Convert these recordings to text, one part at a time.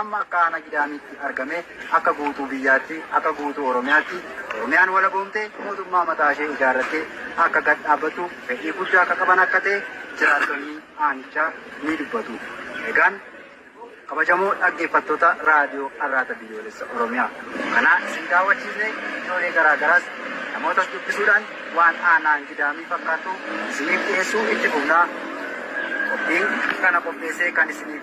Amma akka Aanaa Gidaamiitti argamee akka guutuu biyyaatti, akka guutuu Oromiyaatti Oromiyaan walaboomtee mootummaa mataa ishee ijaarrattee akka gad dhaabbattuuf fedhii guddaa akka qaban akka ta'e jiraattonni aanichaa ni dubbatu. Egaan kabajamoo dhaggeeffattoota Raadiyoo Arraata Biyyoolessa Oromiyaa kanaa isin daawwachiisnee iddoolee garaa garaas namootas dubbisuudhaan waan Aanaan Gidaamii fakkaatu isiniif dhiyeessuu itti fufna. Qophiin kana qopheessee kan isiniif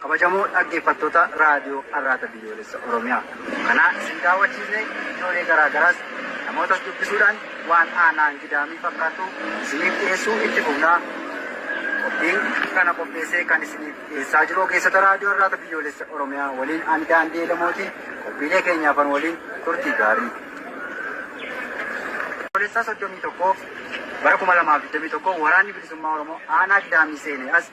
Kabajamoo dhaggeeffattoota Raadiyoo Arraata Biyyoolessa Oromiyaa. Kanaa isin daawwachiisne iddoolee garaa garaas namootas dubbisuudhaan waan aanaan gidaamii fakkaatu isiniif dhiyeessuu itti fufnaa. Qophiin kana qopheessee kan isiniif dhiyeessaa jiru ogeessota Raadiyoo Arraata Biyyoolessa Oromiyaa waliin ani daandii Elemooti qophiilee keenyaafan waliin turtii gaarii. Biyyoolessaa 31 bara 2021 waraanni bilisummaa Oromoo aanaa gidaamii seenee as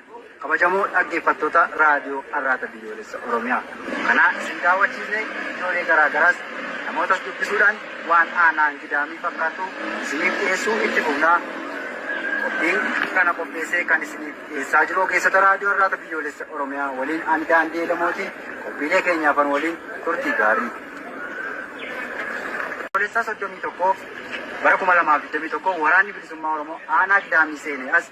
Kabajamoo dhaggeeffattoota Raadiyoo Arraata Biyyoolessa Oromiyaa. Kanaa isin daawwachiisne iddoolee garaa garaas namootas dubbisuudhaan waan aanaan Gidaamii fakkaatu isiniif dhiyeessuu itti fufna. Qophiin kana qopheessee kan isiniif dhiyeessaa jiru ogeessota Raadiyoo Arraata Biyyoolessa Oromiyaa waliin ani Daandii Elemooti qophiilee keenyaafan waliin turtii gaarii. Biyyoolessaa 31 bara 2021 waraanni bilisummaa Oromoo aanaa Gidaamii seenee as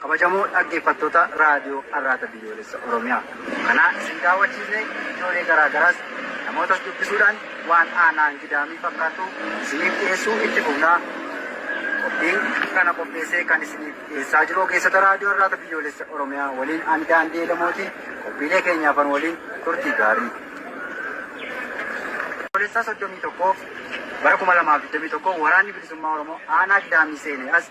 Kabajamoo dhaggeeffattoota Raadiyoo Arraata Biyyoolessa Oromiyaa. Kanaa isin daawwachiisne iddoolee garaa garaas namootas dubbisuudhaan waan aanaan gidaamii fakkaatu isiniif dhiyeessuu itti fufnaa. Qophiin kana qopheessee kan isiniif dhiyeessaa jiru ogeessota Raadiyoo Arraata Biyyoolessa Oromiyaa waliin ani daandii Elemooti qophiilee keenyaafan waliin turtii gaarii. Biyyoolessaa 31 bara 2021 waraanni bilisummaa Oromoo aanaa gidaamii seenee as